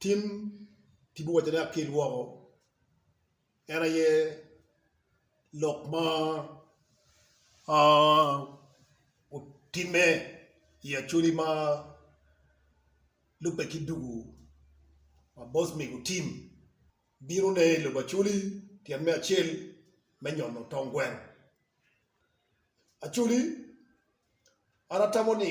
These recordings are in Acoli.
Tim ci biwaco ni akel woko, en aye lok ma otimme i Acholi ma lubbe ki dugu ma bot mego Tim bino ne i lobo Acholi tyen me acel me nyono tong gweng. Acholi an atamo ni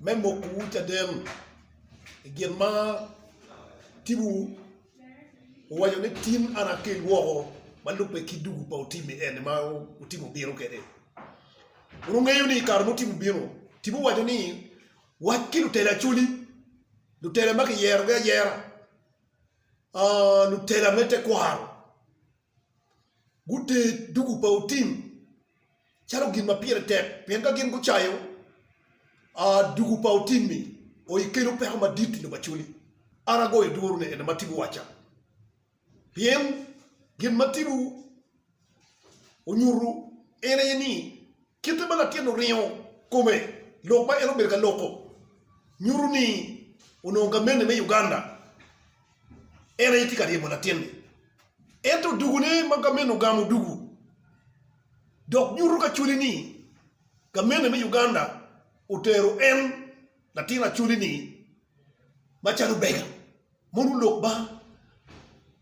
me mokowu caden i gin ma timowu, owaco ni, Tin an akel woko ma lubbe ki dugu pa Otimi eni ma Otimi obino kwede. Pud wungeyo ni i kare ma Otimi obino, Otimi owaco ni, Wac ki lutela Acholi, lutela ma kiyerogi ayera, lutela me tekwaro. guter dugu pa otim calo gin ma pire tek, pien ka gin gucayo dugu pa otim-mi, o ikelo peko madit i lobo Acoli. An agoyo duru ni ene ma Tibu wacca, pien gin ma Tibu onyutu en aye ni, Kite ma latin-ni oringo kome lok ma en obedo ka loko nyuto ni onongo gamente me Uganda en aye tye ka ryemo latin-ni. Ento dugune ma gamente ogamo dugu dok nyuto kacwali ni gamente me Uganda otero en latin acwali-ni macalo bega. Mono Lok man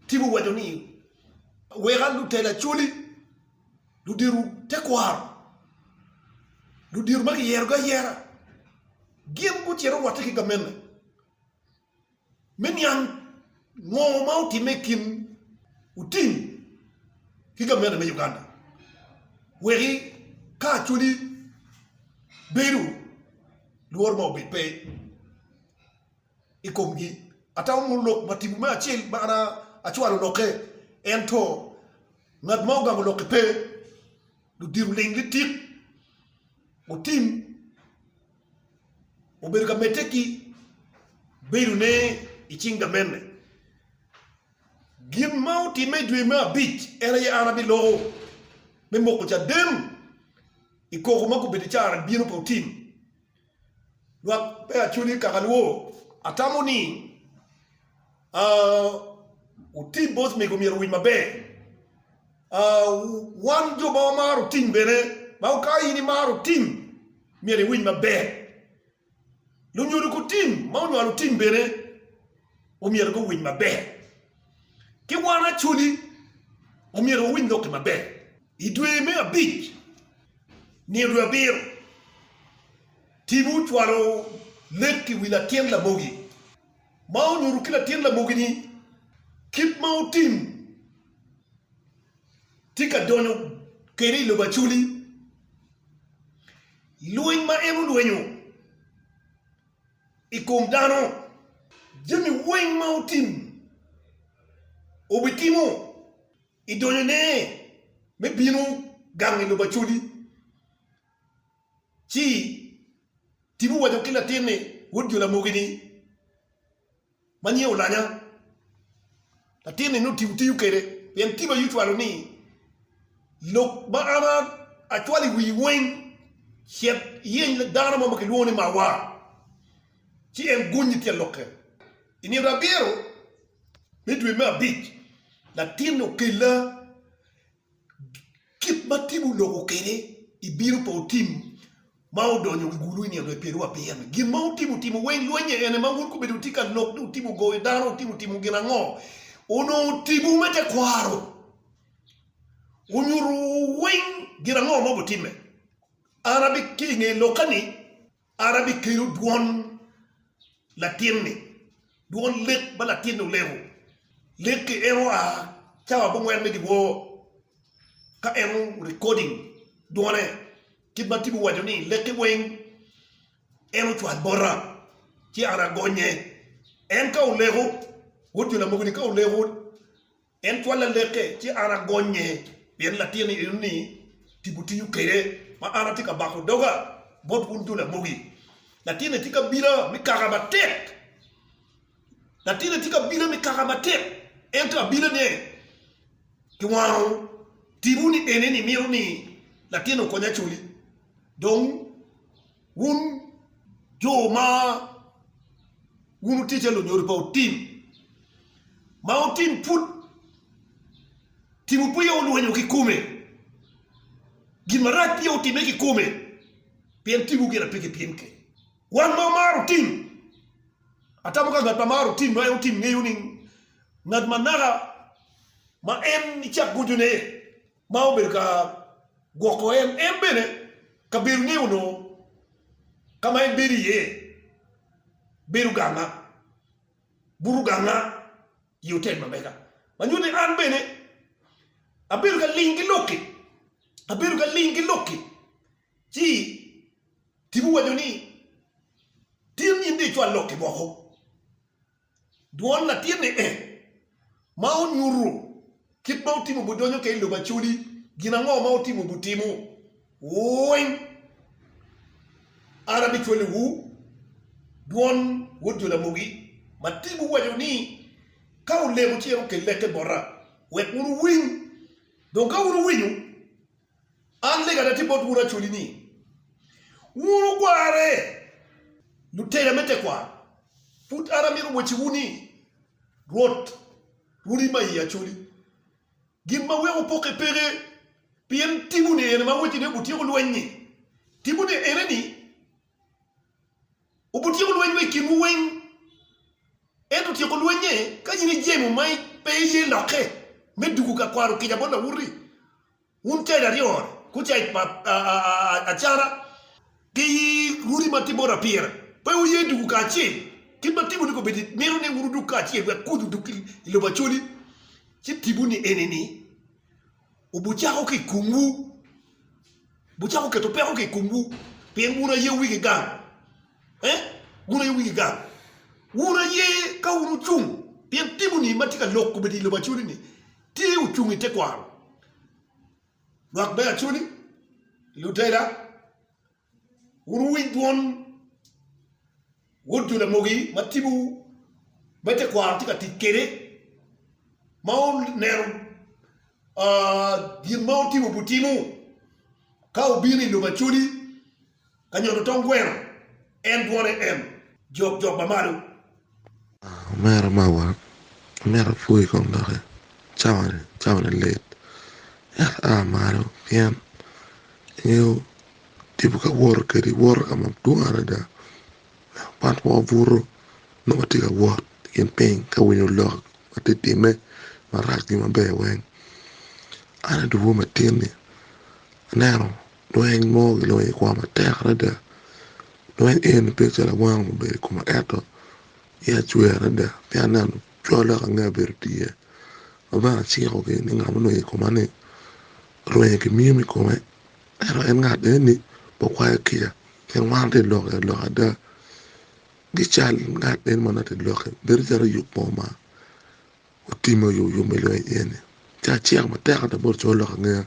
timo waco ni weka lutela Acholi, ludito tekwaro, ludito ma kiyerogi ayera gin gucito rwatte ki gamente me niang ngo ma otimme i kin Otim ki gamente me Uganda weki ka Acholi bedo lworo ma obed pe. i komgi. Atamo mono lok ma tipo me acel ma an acwalo lokke, ento ngat ma ogamo lokki pe. Ludiro ling litik gutim obedo ka medde ki bedone i cing gamenne. Gin ma otimme i dwe me abic en aye an abiloko me moko caden i koko ma gubedo i careni bino pe otim. Lwak me Acoli i Kakalwo, Atamo ni otim both mego myero owiny maber. Wan jo ma wamaro tim bene, ma ka in imaro tim myero iwiny maber. Lunyodo kutim ma onywalo tim bene omyero guwiny maber. Ki wan Acoli omyero wawiny lok-ki maber. I dwe me abic, nino abiro, Tibu ocwalo lek i wi latin lamogi, ma onyuto ki latin lamogi-ni kit ma otim tye ka donyo kwede i lobo Acoli. Lweny ma en olwenyo i kom dano, jami weng ma otim, obitimo. I donyone me bino gang i lobo Acodi, ci Tibu owaco ki latinne, wod jo Lamogi-ni, ma nyinge Olanya. Latinne nongo Tibu tiyo kwede, pien Tibu aye ocwalo ni, Lok ma an acwalo i wii weng, cet iyeny dano mo ma kilwongo ni Mawa. ci en gunyi tye lokke. I nino abiro me dwe me abic, latinni okella kit ma timmi oloko kwede, ibino pe otim ma odonyo wi gulu i nino dwe pyeraryo abiro-ni. Gin ma wutimo otimo weng lweny-nye ene ma wun kobedo wutye ka lok ni wutimo goyo dano, wutimo timo gin ango, onongo timwu me tekwaro onyuto weng gin ango ma wubitimme. An abitye i nge lokka-ni. An abikelo dwon latinni, dwon lek ma latinni oleko, lekki en oa cawa abongwen me dyewor, ka en o-recording dwone, kit ma Tim owaco ni, Lekki weng en ocwal bota, ci an agonye. En ka oleko, wod jo lamogo-ni ka oleko, En twal lalekke, ci an agonye, pien latin eno ni tipo tiyo kede, ma an atye ka bako doga bot wun jo lamogi. Latinne tye kabila mi kaka matek, latinne tye kabila mi kaka matek, ento abilane ki wango tipo ni ene ni mito ni latinne okony acoli, dong. Wun jo ma wun wutye calo lunyodo pa otim, ma otim pud timo peya olwenyo kikome, gin marac peya otime kikome, pien timwu gire pe kipim kec. Wan ma wamaro otim, atamo ka ngat ma maro otim ma en otim ngeyo ni ngat ma naka ma en icak goco ne, ma obedo ka gwoko en, en bene kabedo ni onongo ka ma en bedo iye bedo ganga, buto ganga i otel ma mega. Ma nyuto ni an bene abedo ka ling ki lok-ki, abedo ka ling ki lok-ki. Ci tipo owaco ni, Tin in dong icwal lok-ki woko. Dwol latin ni eh ma onyuto kit ma otimo bu donyo ka i lobo Acholi gin ango ma otimo bu timo weng an abi cwalo wu dwon wod jo lamogi ma ti bu waco ni ka olemo ci en okel leke bota wek wun wu winy dong ka wun wu winyo An lega ada tye bot wun acoli ni wun wugwarre, lutela me tekwaro. Pud an amito wacciwu ni, Rwot, wun i ma iye acoli. Gin ma weko wupokke peke, pien timuni ene ma wacci ni wubityeko lweny-nyi. Timuni ene ni, wubityeko lweny wa i kinwu weng. Ento tyeko lweny-nge ka in ijemo ma pe iye lokke me dugo ka kwaro kica bot lawote-ri? Wun keda aryo kucek pa acara ki runi ma tye bot apira, pe wuye duku kacel? Kit ma Timo-ni kobbe ni, mito ni wun wuduk kacel wek kuc oduk i lobo Acholi. Ci Timo-ni eni ni, Wubucako ki i komwu, wubucako keto peko ki i komwu, pien wun aye wigi gang. Eh? Wun aye wigi gang. Wun aye ka wun wucung, pien Timo-ni ma tye ka lok kobbe ni i lobo Acholi-ni, Tye ocung i tekwaro lwak me Acoli, Lutela, wun wuwiny dwon Wod Jo-Lamogi ma tipo me tekwaro tye ka tic kwede ma oneno gin ma otimo butinu ka obino i lobo Acoli. Ka nyodo tong gweno en dwone en jok jok ba malo. Omera mawa omyero apwoyi kom doki cawani cawani lit ento aa malo pien ingeyo tipo ka woto kedi woto ka madwong adada but wa obuto nongo watye ka wot i kin piny ka winyo lok ma tye timme marac ki maber weng an adugu matinni aneno Lweny mo gilonyo i koma matek adada lweny eni bedo calo awanga ma obedo i koma ento iya cwer adada ci aneno colle woko angeo bene otye ma bene aciko gin ni ngat ma odonyo i koma ni orwenyo ki myim i kome ento en ngat eni pe okwayo kica pien wan watye ka lok i aloka ada ki cal ngat eni ma nongo tye ka lok-ki bedo calo oyub mo ma Otimo yomyom me lweny i en-ni, ci aciro matek ada bot laco lok angeya.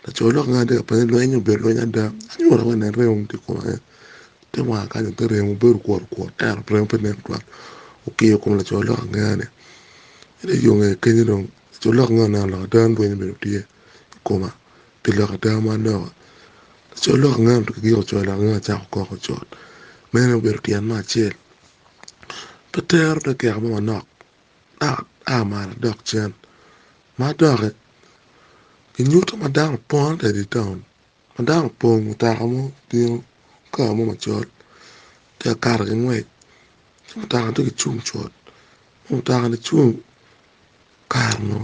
Laco lok angeya-ni tye ka peny ni, 'Lweny-nyi obedo lweny ada? Anyuta wene en remo tye kunu aye? Te wanga kany aye pe remo, obedo kwot kwot ento remo pe nen twatwat. Okiyo kom laco lok angeya-ni, ci dong i yo ngeye kenyo dong laco lok angeya oneno lok ada ni lweny obedo tye i koma pi lok ada ma aneno-ni. Laco lok angeya-ni otwero ki yiko co lok angeya-ni ocako kok ocot. Meno aye obedo tyen me acel. Pe tero te keko mo manok. dok ata malo adok cen. Ma doki, kinyuto ma dano opong adada i taun ma dano opong mutoka mo obino kar mo macol tye ka kato ki ngwec ci mutoka tye ka cung cut ma mutokani cung kare mo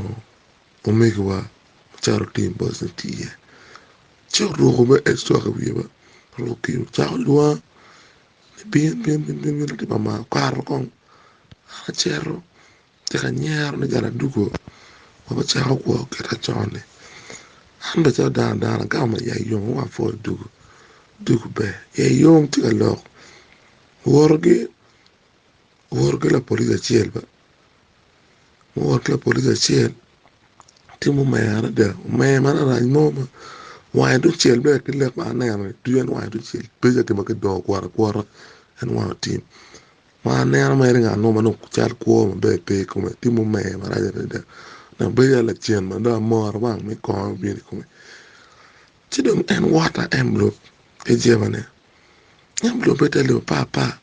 omegiwa macito otim bot me tii iye ci oruko bene ec twak i wiye bene oruko kiyo cako lwang Bin, bin, bin, bin, bin latin mama, okato kong, an acito atye ka nyero ni gal adwogo ma gucako kwo kita con-ni, an bene calo dano dano agamo ma iya yom wek apwony odwogo, odwogo ber, iye yom tye ka lok, woro gi, woro gi lapolis acel. muwoto ki lapolic acel tye ma omer adada omer ma larac mo ma wange ducel dok ki leb ma aneno dok en wange ducel peya ka gin ma kidongo kwot akwota en wange otim ma aneno mere ngat mo ma nongo cal kwo maber pe i kome tye ma omer marac adada dok bedo calo lacen ma dong amora wang me kongo ma bino i kome ci dong en wot aenbulop ki jebene enbulobbe tye alip apar apar.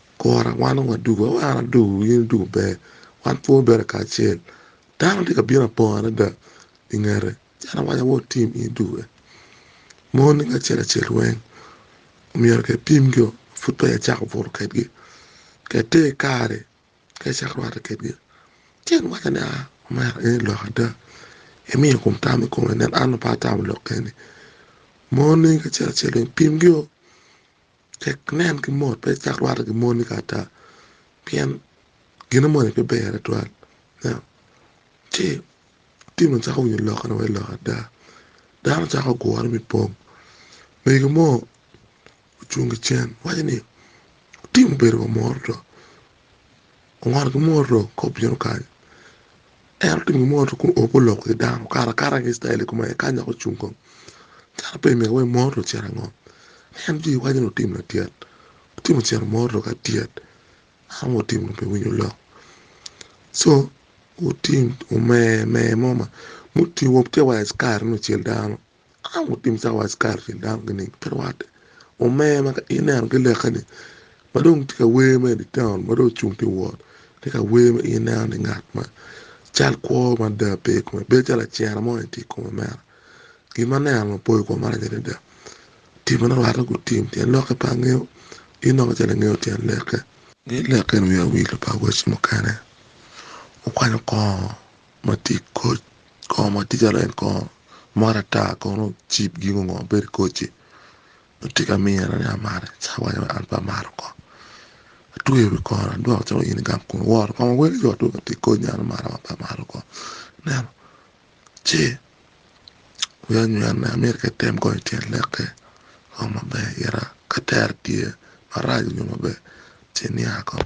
Kura wan onongo adubo, aye an adubo wi in idubo pe, wan pud wabedo kacel. Dano tye ka bino apong adada i ngete ci an awaco awo tim in idube. Moni acel acel weng myero kipim ki pud peya icako buto kwedgi, ka ite i kare ka icako rwatte kwedgi. Ci en waco ni aa omera in ilok adada, imiyo kom tam i kome nen an pe atamo lok eni. Moni acel acel weng pimgio. Cak nen ki mot, pe icak rwatte ki moni kong ata, pien gin mo ni pe ber tutwal. Ci Timothy cako winyo lokke ni wai lok ada. Dano cako gure me pong. Mego mo ocung ki cen waco ni, Timothy obedo wa mot oto. Oworo ki moto kop bino kany, en otingo moto kun oo pe oloko ki dano okato akata ki citayel kome aye kany dok ocung kong cito pe myero iwek moto ocit ango en ci iwaco ni otimo latyet ci ocito moto ka tyet dano ma otimo pe winyo lok co oting omer mer mo ma mutingo wa ci wa i cikarini ocel dano. Ka wutim cawa Icrael kin dano gining? Pe rwatte. Omer ma ka ineno ki leke-ni ma dong tye ka wer ma i dye taun ma dong ocung tye ka wot, tye ka wer ma in ineno ni ngat ma cal kwo mada pe i kome, bedo calo lacira mo aye tye i kome mere. Gin ma aneno mapoyo kwongo marac adada. Timme ni rwatte gutim tyen lokke pe angeyo, in nongo calo ingeyo tyen leke. Nge leke-ni wiye owil pa awoci mukene, okwanyo kongo Matic koc kor matic adada en kor mot ata kono cip gin ongo ma bedo i koc-ci nongo tye ka miyo en ni amate ci awaco ni an pe amaro kor atweyo wi kor-ri adwoko calo in igang kun iworo kong awel i ot dong ka tye i koc ni an amarra wa pe amaro kor ineno ci wiya onywene amyero ka item kong ityen lek-ki kong maber ira ka tere tye maraco nyo maber ci inya kong